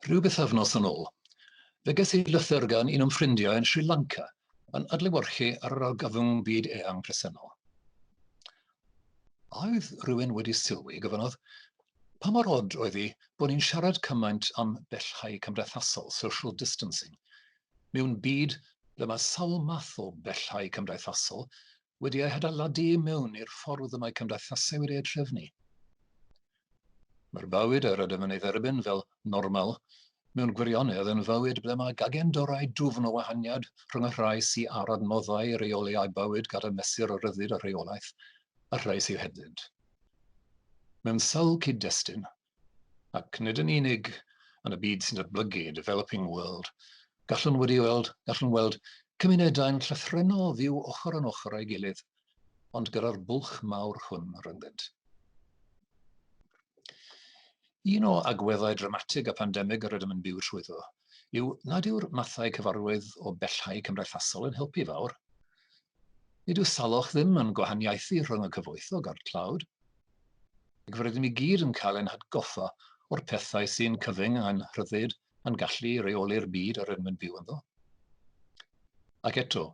Rhyw bythefnos yn ôl, fe ges i lythyr gan un o'n ffrindiau yn Sri Lanka yn adlewyrchu ar yr argyfwng byd eang presennol. A oedd rhywun wedi sylwi, gofynodd, pa mor od oedd hi bod ni'n siarad cymaint am bellhau cymdeithasol, social distancing, Mewn byd ble mae sawl math o bellau cymdeithasol wedi eu hadeiladu i mewn i'r ffordd y mae cymdeithasau wedi eu trefnu, mae'r bywyd yr ydym yn ei dderbyn fel normal mewn gwirionedd yn fywyd ble mae gagendorau dwfn o wahaniad rhwng y rhai sy ar adnoddau i reoli eu bywyd gan y mesur o ryddid a rheolaeth a'r rhai sydd hebddynt. Mewn sawl cyd-destun, Ac nid yn unig yn y byd sy'n datblygu, developing world, gallwn wedi weld, gallwn weld cymunedau'n llythrennol fyw ochr yn ochr â'i gilydd, ond gyda'r bwlch mawr hwn rhyngddynt. Un o agweddau dramatig a pandemig yr ydym yn byw trwyddo yw nad yw'r mathau cyfarwydd o bellhau cymdeithasol yn helpu fawr. Nid yw salwch ddim yn gwahaniaethu rhwng y cyfoethog a'r tlawd, ac fe rydym i gyd yn cael ein hatgoffa o'r pethau sy'n cyfyng a'n rhyddid a'n gallu i reoli'r byd yr ydym yn byw ynddo. Ac eto,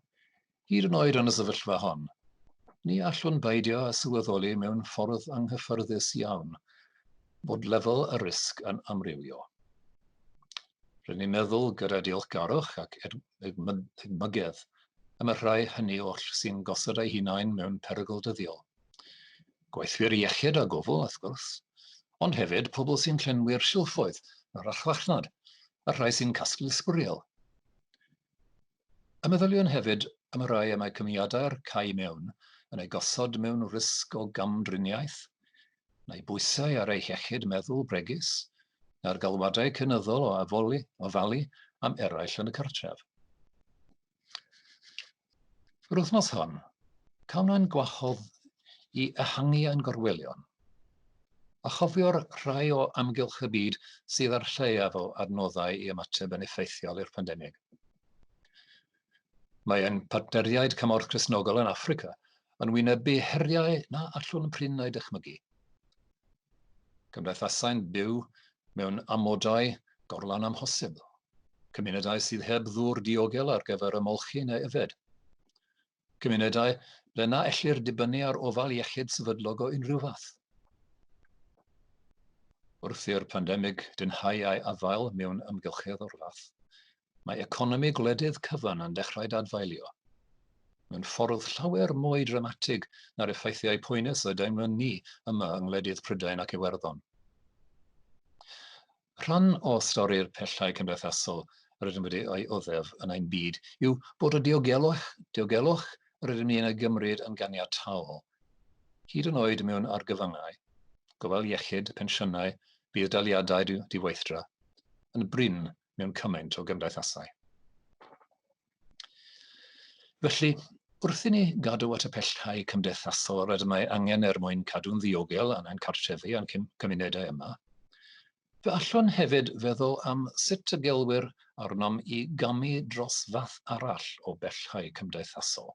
hyd yn oed yn y sefyllfa hon, ni allwn beidio â sylweddoli mewn ffordd anghyffyrddus iawn bod lefel y risg yn amrywio. Rydyn ni'n meddwl gyda diolchgarwch ac edmygedd am y rhai hynny oll sy'n gosod eu hunain mewn perygl dyddiol. Gweithwyr iechyd a gofal, wrth gwrs, ond hefyd pobl sy'n llenwi'r silffoedd ar archfarchnad a'r rhai sy'n casglu sbwriel. Y meddyliwn hefyd am y rhai y mae cymiadau'r cau mewn yn eu gosod mewn risg o gamdriniaeth, na'i bwysau ar ei hiechyd meddwl bregus, na'r galwadau cynyddol o afoli, ofalu am eraill yn y cartref. Yr wythnos hon, cawn ein gwahodd i ehangu ein gorwelion, a chofio'r rhai o amgylch y byd sydd â'r lleiaf o adnoddau i ymateb yn effeithiol i'r pandemig. Mae ein partneriaid Cymorth Cristnogol yn Affrica yn wynebu heriau na allwn prin eu dychmygu. Cymdeithasau'n byw mewn amodau gorlan amhosib, cymunedau sydd heb ddŵr diogel ar gyfer ymolchi neu yfed, cymunedau ble na ellir dibynnu ar ofal iechyd sefydlog o unrhyw fath. Wrth i'r pandemig dynhau ei afael mewn amgylchedd o'r fath, mae economi gwledydd cyfan yn dechrau dadfaelio, mewn ffordd llawer mwy dramatig na'r effeithiau poenus y deimlwn ni yma yng ngwledydd Prydain ac Iwerddon. Rhan o stori'r pellau cymdeithasol rydym wedi ei oddef yn ein byd yw bod y diogelwch, diogelwch rydym ni'n ei gymryd yn ganiataol, hyd yn oed mewn argyfyngau, gofal iechyd, pensiynau, budd-daliadau diweithdra, yn brin mewn cymaint o gymdeithasau. Felly, wrth i ni gadw at y pellhau cymdeithasol rydym ei angen er mwyn cadw'n ddiogel yn ein cartrefi a'n cymunedau yma, fe allwn hefyd feddwl am sut y gelwyr arnom i gamu dros fath arall o bellhau cymdeithasol,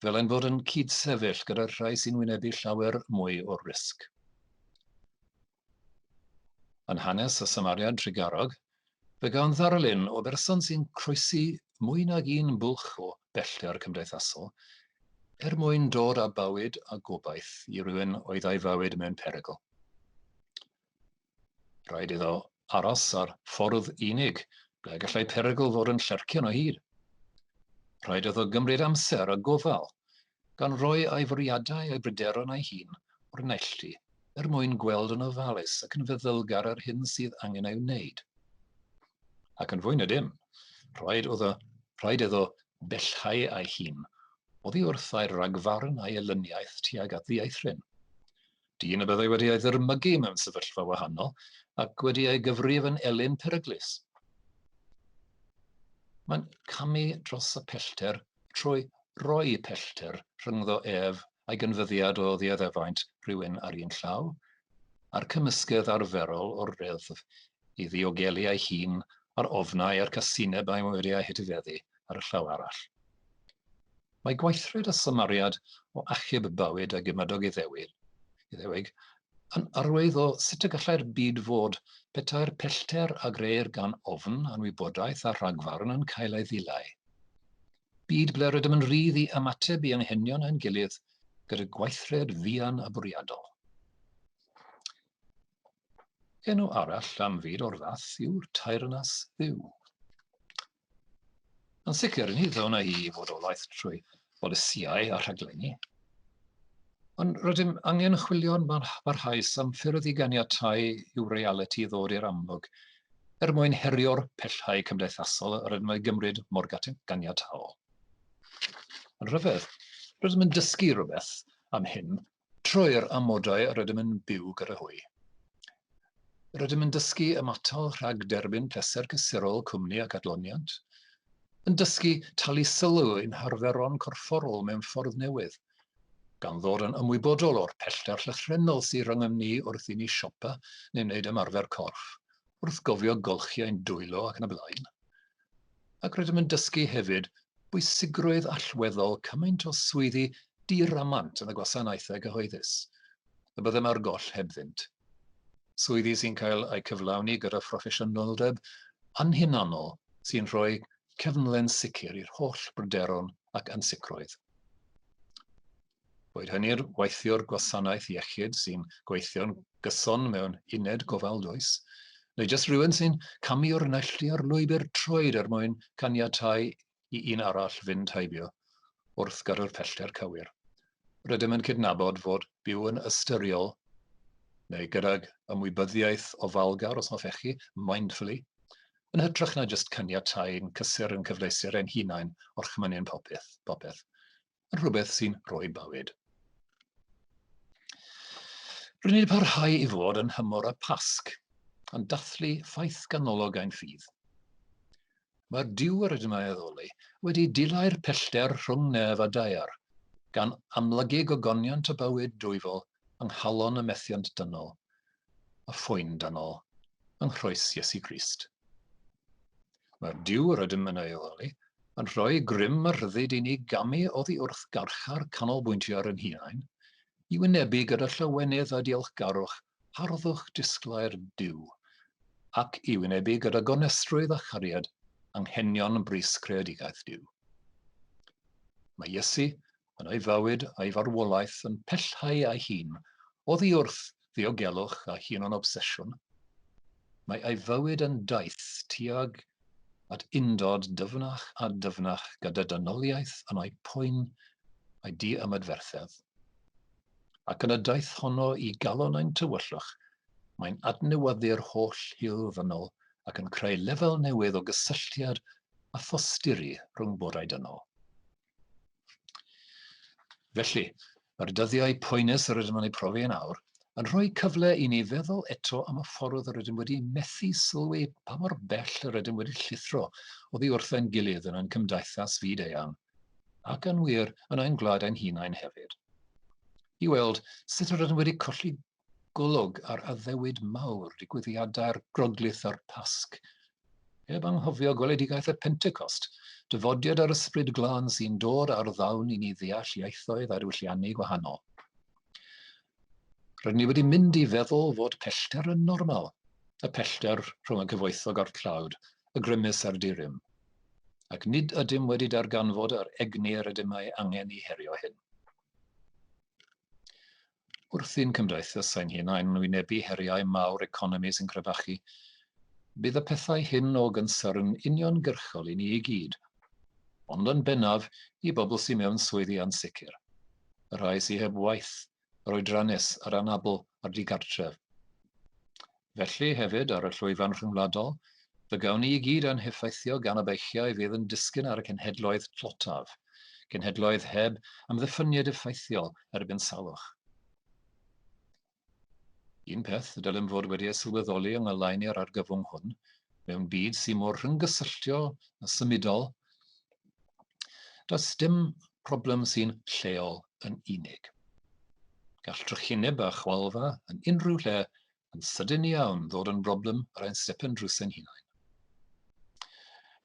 fel ein bod yn cyd-sefyll gyda'r rhai sy'n wynebu llawer mwy o risg. Yn hanes y Samariad Drugarog, fe gawn ddarlun o berson sy'n croesi mwy nag un bwlch o bellter cymdeithasol er mwyn dod â bywyd a gobaith i rywun oedd ei fywyd mewn perygl. Rhaid iddo aros ar ffordd unig, ble gallai perygl fod yn llercian o hyd. Rhaid iddo gymryd amser a gofal gan roi ei fwriadau a'i bryderon ei hun o'r neilltu er mwyn gweld yn ofalus ac yn feddylgar yr hyn sydd angen ei wneud. Ac yn fwy na dim, rhaid iddo, rhaid iddo bellhau ei hun oddi wrth ei ragfarn a'i elyniaeth tuag at ddieithryn. dyn y byddai wedi ei ddyrmygu mewn sefyllfa wahanol ac wedi ei gyfrif yn elyn peryglus. Mae'n camu dros y pellter trwy roi pellter rhyngddo ef a'i gynfyddiad o ddiaddefaint rhywun ar un llaw, a'r cymysgedd arferol o'r reddf i ddiogelu ei hun a'r ofnau a'r casineb a'i wedi ei hetifeddu ar y llaw arall. Mae gweithred a symariad o achub bywyd a gymadog Iddewig, Iddewig, yn arwydd o sut y gallai'r byd fod petai'r pellter a greir gan ofn, anwybodaeth a rhagfarn yn cael ei ddileu. Byd ble rydym yn rhydd i ymateb i anghenion ein gilydd gyda gweithred fuan a bwriadol. Enw arall am fyd o'r fath yw'r taerynas fyw. Yn sicr, ni ddylwn i fod o laeth trwy bolisïau a rhaglenni, ond rydym angen chwilio'n barhaus am ffyrdd i ganiatáu i'w realiti ddod i'r amlwg er mwyn herio'r pellhau cymdeithasol rydym yn eu gymryd mor ganiataol. Yn rhyfedd, rydym yn dysgu rhywbeth am hyn Trwy'r amodau rydym yn byw gyda hwy, rydym yn dysgu ymatal rhag derbyn pleser cysurol cwmni ac adloniant, yn dysgu talu sylw i'n harferon corfforol mewn ffordd newydd, gan ddod yn ymwybodol o'r pellter llythrennol sydd rhyngom ni wrth i ni siopa neu wneud ymarfer corff, wrth gofio golchiau'n dwylo ac yn y blaen. ac rydym yn dysgu hefyd bwysigrwydd allweddol cymaint o swyddi diramant yn y gwasanaethau cyhoeddus, y byddem ar goll hebddynt. Swyddi sy'n cael eu cyflawni gyda phroffesiynoldeb anhunanol sy'n rhoi cefnlen sicr i'r holl bryderon ac ansicrwydd. boed hynny'r weithiwr gwasanaeth iechyd sy'n gweithio'n gyson mewn uned gofal dwys, neu jyst rhywun sy'n camu o'r neilltuo'r lwybr troed er mwyn caniatáu i un arall fynd heibio wrth gadw'r pellter cywir. Rydym yn cydnabod fod byw yn ystyriol neu gydag ymwybyddiaeth ofalgar, os hoffech chi, mindfully, yn hytrach na jyst caniatáu'n cysur yn cyfleuster ein hunain orchmynu'n popeth. popeth. yn rhywbeth sy'n rhoi bywyd. Rydyn ni'n parhau i fod yn hymor y Pasg, yn dathlu ffaith ganolog ein ffydd. Mae'r diw yr ydym ei addoli wedi dilau'r pellter rhwng nef a daear, gan amlygu gogoniant y bywyd dwyfol yng nghalon y methiant dynol, y ffwyn dynol, yng nghroes Iesu Grist. Mae'r Duw yr ydym yn ei oleoli yn rhoi grym a rhyddid i ni gamu oddi wrth garchar canolbwyntio ar yn hunain, i wynebu gyda llawenydd a diolchgarwch harddwch disglair Duw, ac i wynebu gyda gonestrwydd a chariad anghenion brys creadigaeth Duw. Mae Iesu yn ei fywyd a'i farwolaeth yn pellhau ei hun oddi wrth ddiogelwch a hunan-obsesiwn, mae ei fywyd yn daith tuag at undod dyfnach a dyfnach gyda dynoliaeth yn ei phoen a'i di-ymadferthedd. Ac yn y daith honno i galon ein tywyllwch, mae'n adnewyddu'r holl hil ddynol ac yn creu lefel newydd o gysylltiad a thosturi rhwng bodau dynol. Felly, mae'r dyddiau poenus yr ydym yn eu profi yn awr yn rhoi cyfle i ni feddwl eto am y ffordd yr ydym wedi methu sylwi pa mor bell yr ydym wedi llithro oddi wrth ein gilydd yn ein cymdaithas fyd eang, ac yn wir yn ein gwlad ein hunain hefyd. I weld sut yr ydym wedi colli golwg ar addewid mawr digwyddiadau'r Groglith a'r Pasg. Heb anghofio gweledigaeth y Pentecost, dyfodiad yr Ysbryd Glân sy'n dod ar ddawn i ni ddeall ieithoedd a diwylliannau gwahanol. Rydyn ni wedi mynd i feddwl fod pellter yn normal, y pellter rhwng y cyfoethog a'r tlawd, y grymus a'r dirym, ac nid ydym wedi darganfod yr egni yr ydym ei angen i herio hyn. wrth i'n cymdeithas ein hunain wynebu heriau mawr economi sy'n crebachu, bydd y pethau hyn o gynsyrn uniongyrchol i ni i gyd, ond yn bennaf i bobl sy mewn swyddi ansicr, y rhai sy heb waith, yr oedrannus, yr anabl a'r digartref. Felly, hefyd, ar y llwyfan rhyngwladol, fe gawn ni i gyd ein heffeithio gan y beichiau fydd yn disgyn ar y cenhedloedd tlotaf, cenhedloedd heb amddiffyniad effeithiol erbyn salwch. Un peth y dylem fod wedi ei sylweddoli yng ngoleuni'r argyfwng hwn, mewn byd sy'n mor rhynggysylltio a symudol, does dim problem sy'n lleol yn unig. Gall drychineb a chwalfa yn unrhyw lle yn sydyn iawn ddod yn broblem yr ein stepen drws ein hunain.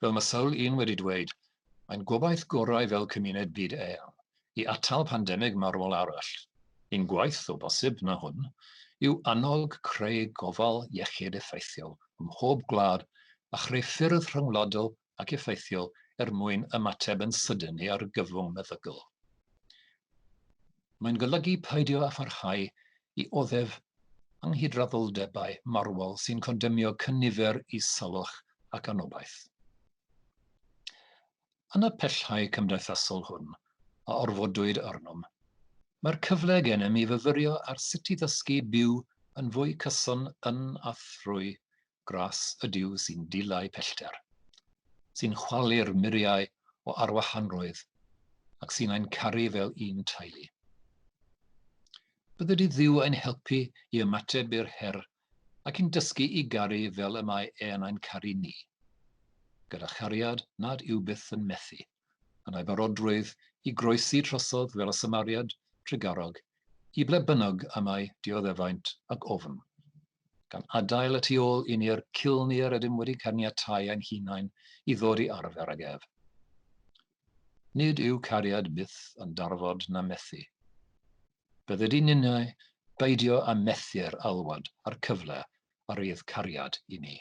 Fel mae sawl un wedi dweud, mae'n gobaith gorau fel cymuned byd eang i atal pandemig marwol arall. Un gwaith, o bosib, na hwn, yw annog creu gofal iechyd effeithiol ym mhob gwlad a chreu ffyrdd rhyngwladol ac effeithiol er mwyn ymateb yn sydyn i argyfwng meddygol. Mae'n golygu peidio â pharhau i oddef anghydraddoldebau marwol sy'n condemnio cynifer i salwch ac anobaith. Yn y pellau cymdeithasol hwn a orfodwyd arnom, mae'r cyfle gennym i fyfyrio ar sut i ddysgu byw yn fwy cyson yn a thrwy gras ydyw sy'n dileu pellter, sy'n chwalu'r muriau o arwahanrwydd ac sy'n ein caru fel un teulu. Bydde di ddiw ein helpu i ymateb i'r her ac i'n dysgu i garu fel y mae e'n ein caru ni, gyda chariad nad yw byth yn methu. yn ei barodrwydd i groesi trosodd fel y Samariad trugarog i ble bynnag y mae dioddefaint ac ofn, gan adael y tu ôl i ni'r ciln i'r ydym wedi caniatáu ein hunain i ddod i arfer ag ef. Nid yw cariad byth yn darfod na methu. Bydde di ninnau beidio a methu'r alwad a'r cyfle a rydd cariad i ni.